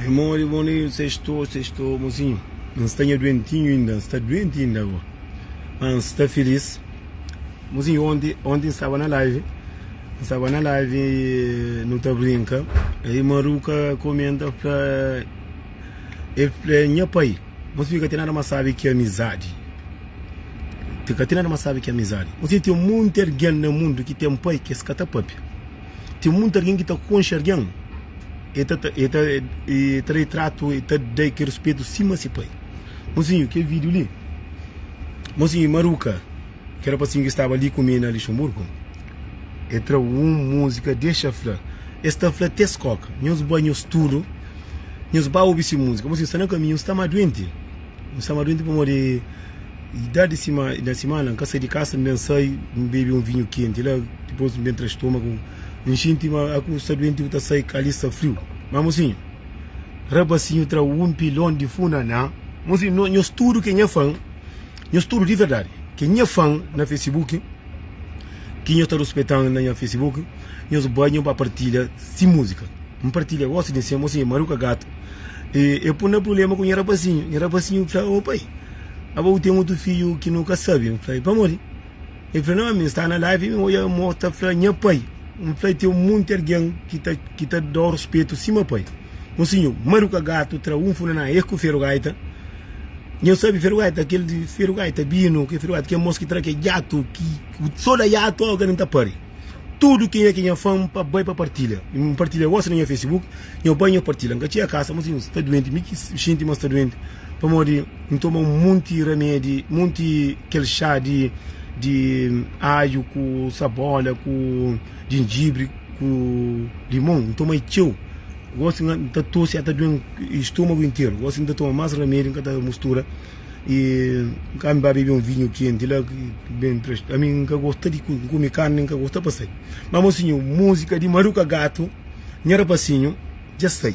Irmon di Bonito, sextou, sextou, mozinho. N sta nha duentinho inda, n sta duenti inda bo. Mas n sta filis. Mozinho, onti, onti n staba na live, n staba na live e nu ta brinka. E Maruca comenta pra el fla nha pai, mas mi ka ten nada mas sabe ki amizadi. Ti ka ten nada mas sabe ki amizadi. Mozinho, ten monti algen na mundu ki ten pai ki es ka ta papia. Ten munti argen ki ta konxe argen, e ta ta e ta e ta da-i tratu, e ta da-i ke ruspetu sima se pai. Mosinhu, ke video li? Mosinhu i Maruca, ke rapasinhu ki staba li ku mi na Luxemburgo, e tra un muzika, Dexa fla. Es ta fla te skoka. Nhos bai, nhos tudu, nhos bai obi se muzika. Mosinhu, sta na kaminhu, N sta ma duenti. N sta ma duenti pamodi. I da di sima, i da simana n ka sai di kasa, n ben sai, n bebe un vinhu kenti la, dipos n ben tra stomagu, n xinti ma aku sta duenti, ku ta sai ka ali sta friu. Ma mosinhu, rabasinhu tra un pilon di funaná. Mosinhu, no, nhos tudu ke nha fan, nhos tudu di verdadi ke nha fan na Facebook, ki nhos ta ruspetan na nha Facebook, nhos bai, nhos ba partilha si muzika. N partilha gosi di nsen, mosinhu, Maruka Gatu, E, e pun na prublema ku nha rapasinhu. Nha rapasinhu fla, ô pai, aba bu ten otu fidju ki nu ka sabe? N fla, pamodi? El fla, nau, ami N sta na live, mi odja mo ta fla nha pai. N fla, ten monti algen ki ta ki ta da-u ruspetu sima pai. Un sinhor, Maruka Gatu, tra un funanaa es ku Feru Gaita. Nhos sabe Feru Gaita? Kel Feru Gaita binu, kel Feru Gaita, kel mos ki tra kel jatu ki so da jatu, ô kel li N ta pare. Tudu kenha ki nha fan pa bai pa partilha N partilha gosi na nha facebook Nha bai nha partilha N ka txia kasa ma si N sta duenti Mi ki xinti ma sta duenti Pamodi N toma un monti ramedi Monti kel xá di di aju ku sabola ku jinjibri ku limon N toma-i txeu Gosi N ta tosi ata due-m stomagu interu Gosi N ta toma más ramedi N ka ta mustura. E N ka mi ba bebe un vinhu kenti la ki ben inprestadu. Ami N ka gosta di kume karni nen ka gosta pa sai. Ma mosinhu musika di maruka gatu nha rapasinhu dja sai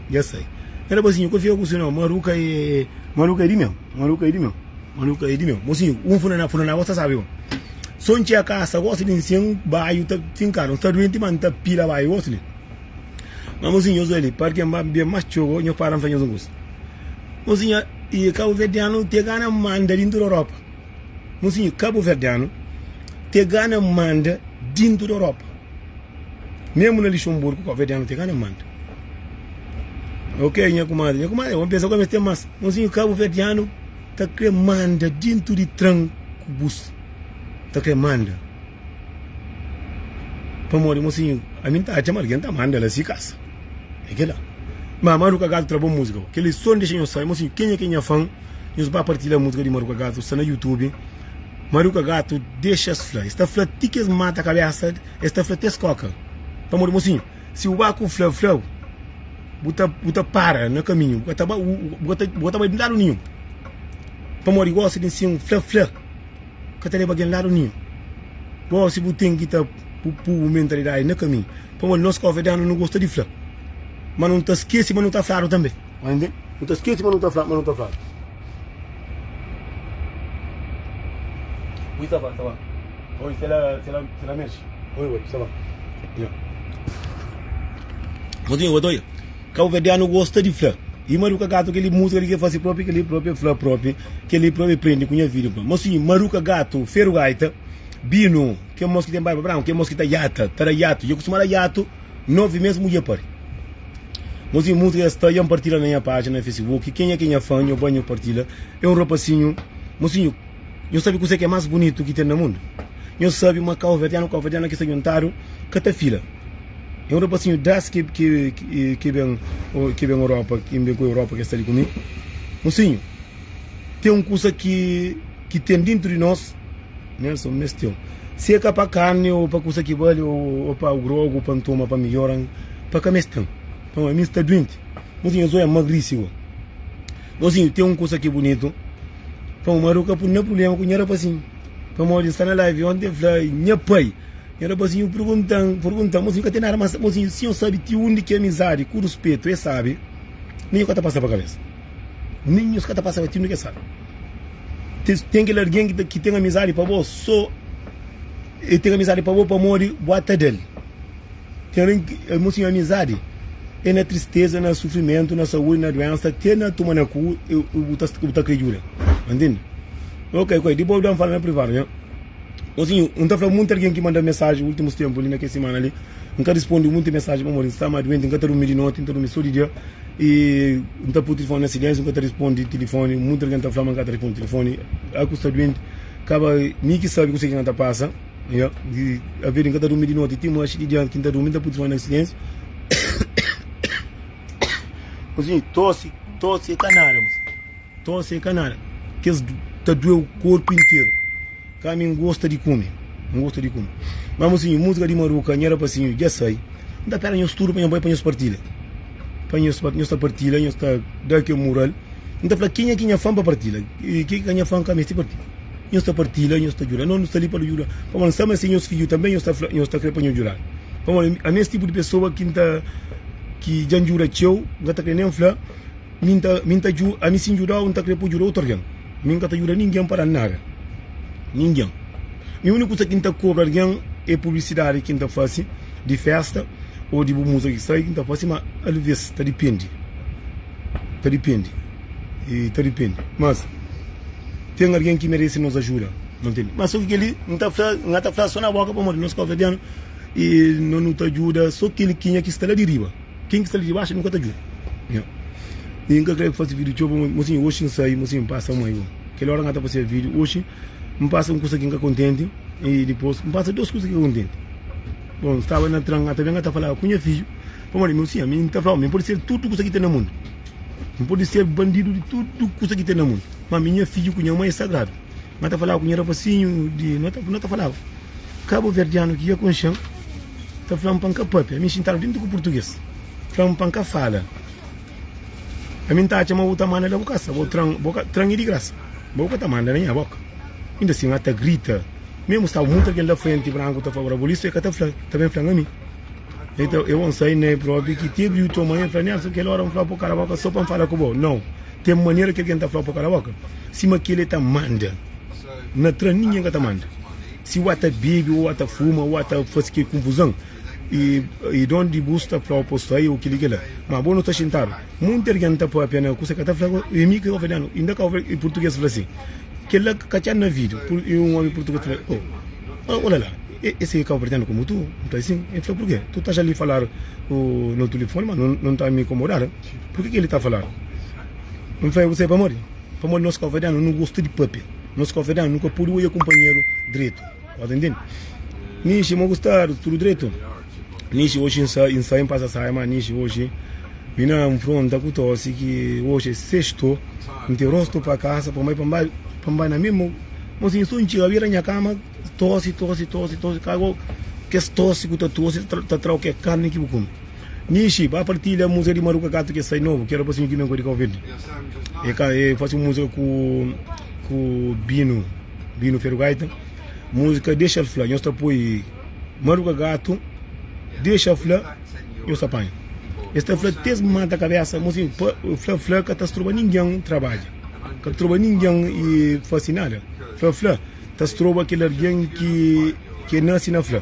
dja sai nha rapasinhu ka fika ku si no maruka e maruka e di meu maruka e di meu maruka e di meu mosinhu un funana funana bo sa sabe un so N txia kasa gosi di N sian un baiu ta finkadu N sta duenti ma N ta pila baiu gosi di ma mosinhu nhos oja li parken ba N bebe mas txogo nhos para N fla nhos un kusa. Monsinha, i kabuverdianu te gana manda dintu di Europa. Monsinha, kabuverdianu te gana manda dintu di Europa. Memu na Lixonburgu, kabuverdianu te gana manda. Ok, nha kumadri, nha kumadri, ômi pensa gomi es ten más. Monsinha, kabuverdianu ta kre manda dintu di tran ku bus. Ta kre manda. Pamodi, monsinha, ami N ta atxa ma algen ta manda la si kasa. É kel-la. Má Maru Kagatu tra bon múzika. Kel-li son dexa nhos sabe. Mon sinhu, kenha ki é nha fan, nhos ba partilha múzika di Maru Kagatu, sta na YouTube. Maru Kagatu dexa-s fla. Es ta fla ti ki es mata kabésa, es ta fla ti es kóka. Pamodi, mon sinhu, si bu ba ku fla, fla, bu ta, bu ta para na kaminhu. Bu ka ta ba, bu, bu ka ta, bu ka ta bai di ladu ninhun. Pamodi gósi di nsiu fla, fla ka ta leba algen ladu ninhun. Gósi bu ten ki ta pui bu mentalidadi na kaminhu. Pamodi nos konfidanu nu gosta di fla, ma nu ta skese ma nu ta fladu tanbe. Nu ta skese ma nu ta fladu, ma nu ta fladu. Kabuverdianu gosta di fla, I maruka gatu keli mutu keli ke fasi propi keli propi e fla propi keli propi e prendi ku nha vida. Ma si maruka gatu feru gaita binu. Ke mos ki ten barba branku, ke mos ki ta yata, ta da yatu, dja kustuma da yatu, novi mes mudje pari. Mos i musika es ta, ya mpartila na nha pajina na fesibuki, kenha ke nha fan, nho ba nho partila, e un rapasinhu, mosinhu, nho sabi kuse ke mas bunitu ki ten na mundu? Nho sabi ma kauverdianu, kauverdiana ki sta djuntadu ka ta fila, e un rapasinhu das ke ke ben ke ben Europa, ke ben ku Europa ke sta li ku mi, mosinhu, ten un kusa ki ki ten dintu di nos, Nelson, Mes txeu, si é ka pa karni ô pa kusa ki bali ô pa grogu pa N toma pa mi jora-m, pa ka mes ten. Nton, ami N sta duenti. Mozinhu, nhos oja-m magrisi agoa. Mozinhu, ten un kusa ki bunitu, pa un maridu ka pui-m na prubléma ku nha rapazinhu. Pamodi N sta na live onti, el fla, Nha pai, nha rapazinhu purgunta-m, purgunta-m. Mozinhu, ka ten nada más. Mozinhu, si nhos sabe ti undi ki amizadi ku ruspetu é sábi, nen nhos ka ta pasa pa kabésa. Nen nhos ka ta pasa pa ti undi ki é sábi. Ten kel algen ki ten amizadi pa bo, sô el ten amizadi pa bo pamodi bo atadal. Ten algen ki el mostra nha amizadi é na tristeza, na sufrimentu, na saúdi, na duensa, te na tuma na ku bu ta kre djuda. Ba ntende? Ok, ok, dipos bu da-m fala na privadu, nha. Mosinhu, N ta fla munti algen ki manda-m mensaji ultimus tenpu li, na kes simana li, N ka rispondi munti mensaji pamodi N sta ma duenti, N ka ta durmi di noti, N ta durmi so di dia. E N ta pô tilifóni na silénsiu, N ka ta responde tilifóni Munti algen ta fla-m N ka ta responde tilifóni A ku sta duenti kaba mi ki sabe kuse ki N ta pasa yeah. Avê di N ka ta durmi di noti Ti manxi di dianti ki N ta durmi N ta pô tilifóni na silénsiu Kusnhi tosi, tosi é ka nada mos. Tosi é ka nada, kes du ta dueu korpu interu ka mi n'gosta di kume, n'gosta di kume ma mosinhu musika di maruka nha rapasinhu dja sai n'ta pera nhos tudu pa nha bai pa nhos partila pa nhos pa nhos ta partila nhos ta da ke mural n'ta fla kenha ki nha fan pa partila e ke ki ka nha fan ka mesti partila nhos ta partila nhos ta djuda no nu sta li pa nu djuda pamo nu sabe ma se nhos fidju tambe nhos ta fla nhos ta kre pa nhos djudal pamo ami es tipu di pesoa ki n'ta ki dja n'djuda txeu n'ka ta kre nen fla. Mi nta, mi nta dju, ami si ndjuda-u nta kre po djuda otu argen. Mi nka ta djuda ningen pa da-l nada. Ningen. Mi uniku kusa ki nta kobra argen e publisidadi ki nta fasi di festa o di bu musa ki sai ki nta fasi ma alves ta dipende, ta dipende, e ta dipende. Mas ten argen ki meresi nos ajuda, bu ntende. Mas so ki kel-li nta fla, nga ta fla so na boka pamodi nos kabuverdianu e no nu ta djuda so kel ki nha ki sta la di riba. Ken ki sta li dibaxu nunka ta djuda. I N ka krê faze vídiu txeu, má sinhor, oxi N sai, má sinhor, N pasa mai un. Kel óra N ka ta fazeba vídiu, oxi N pasa un kusa ki N ka kontenti i dipôs N pasa dôs kusa ki N ka kontenti. Bon, N staba na tren, ata ben N ka ta falaba ku nha fidju, pamodi meu sinhor, mi N ta fla-u ma N pode ser tudu kusa ki ten na mundu, N pode ser bandidu di tudu kusa ki ten na mundu, má ami nha fidju ku nha mai é sagradu. N ka ta falaba ku nha rapasinhu di. No ta falaba. Kabuverdianu ki ia ku nxen ta fla-m pa N ka pâpia. Mi xintadu dintu ku purtuges, fla-m pa N ka fala. Ami N ta atxa ma bu ta manda da bu kasa, bo tran, bo ka tran-i di grasa. Ma bu ka ta manda da nha bóka. Inda sin, N ta grita. Mésmu staba mutu algen la frenti, branku ta fla-m rabolistu, el ka ta fla, ta ben fla-m ami. Nton, e bon sai Nairobi ki ti abriu txon. Ma el fla, Nelson, kel óra N fla-u pa bu kala bóka sô pa N fala ku bo? Nau. Ten manera ki algen ta fla-u pa bu kala bóka, sima kel-li el ta manda. Na tra ninguém ka ta manda. Si ua ta bebi ou ua ta fuma ua ta fasi ke kunfuzan e donde bu sta fla o posto ai ou kili kila ma bo no sta xintadu munti argen ta papia na kusa ka ta fla e mi ke kavadianu inda ka e purtuges fla si kila ka txan na video e un omi purtuges fla o ola la e se kavadianu komu tu un ta asin e fla purke tu ta ja li falar no tulifoni ma no ta mi komodadu purke ke li ta falar un fla e ku sai pamodi. Pamodi nos káuverdianu nu gosta di pâpia, nos káuverdianu nu ka pode odja kunpanheru dretu. Ô ta intende? Nishi, Mo gostadu, tudu dretu? Nishi, Oxi N sai, N sai, N pasa saia, má Nishi, oxi mi na nfronta ku tosi ki oxi é sestu, N ten rostu pa kasa, pa mai, pa mbai, pa mbai na mimo, Mo si N so N txiga bira nha kama, tosi, tosi, tosi, tosi, ka bo kes tosi ku ta tosi ta trau ke karni ki bu kume. Nishi, ba partilha musa di Maruka Katu ki sai novu, ki era pa sinhu ki ben ku di Kauverdi. E ka, e fasi un musika ku, ku Binu, Binu Feru Gaita. Musika Dexal Fla, nhos ta poi Maruka Gatu, Dexa Fla, nhos ta panha. Es ta fla ti es mata kabesa, mo sin, pa, fla fla ka ta stroba ningen trabadja, ka ta stroba ningen e fasi nada. Fla fla ta stroba kel algen ki, ki e nasi na fla.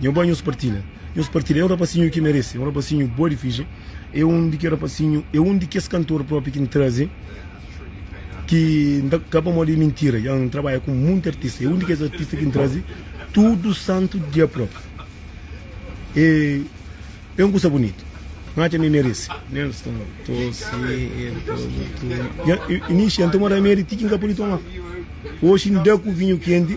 Nho ba nhos partilha nhos partilha é un rapasinho ki merece é un rapasinho boa di fidje é un di ki rapasinho é un di kes kantor propi ki n'traze ki n'ta ka pamodi é mintira ya n'trabalha ku munti artista é un di kes artista ki n'traze tudo santo dia propi é é un kusa bonitu n'atxa ma é merece Nelson Tosi Nho inxia n'toma ramedi ti ki n'ka podi toma oxi n'da ku vinho kenti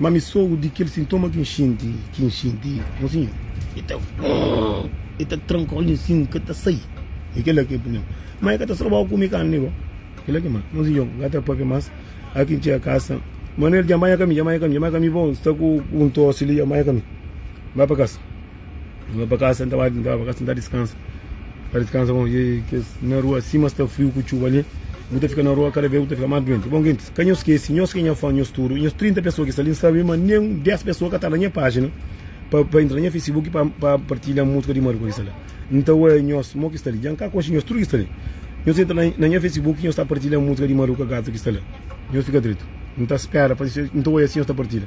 Ma mi sogu di kel sintoma ki N xinti, ki N xinti, Mon Sinhor, e ta grrrrr, e ta tranka olhu nsin, N ka ta sai. E kel-la ki é prubléma. Ma e ka ta stroba-u kume karni di bo. Kel-la ki é mal. Mon Sinhor, N ka ta pâpia más. Óras ki N txiga kasa, Manuel dja, Nha mãe, nha ka mi, nha mãe, nha ka mi, nha mãe, ka mi, nha mãe, ka mi, bo, sta ku un tósi li, nha mãe, nha ka mi, ba pa kasa. N bai pa kasa, N ta bai N ta bai pa kasa, N ta diskansa N ta diskansa bon E kes na rua sima sta friu ku txuba li Bu ta fika na rua kada bes bu ta fika más duenti Bon gentis, ka nhos skese nhos ki é nha fã Nhos tudu, nhos 30 pesoa ki sta li N sabe ma nen un 10 pesoa ka ta la nha pájina pa pa intra na nha facebook pa pa partilha músika di Marco ki sta la N ta oia nhos mo ki sta li dja N ka konxe nhos tudu ki sta li Nhos intra na na nha facebook nhos ta partilha músika di Maruca Gata ki sta la Nhos fika dretu N ta spera pa N ta oia si nhos ta partilha.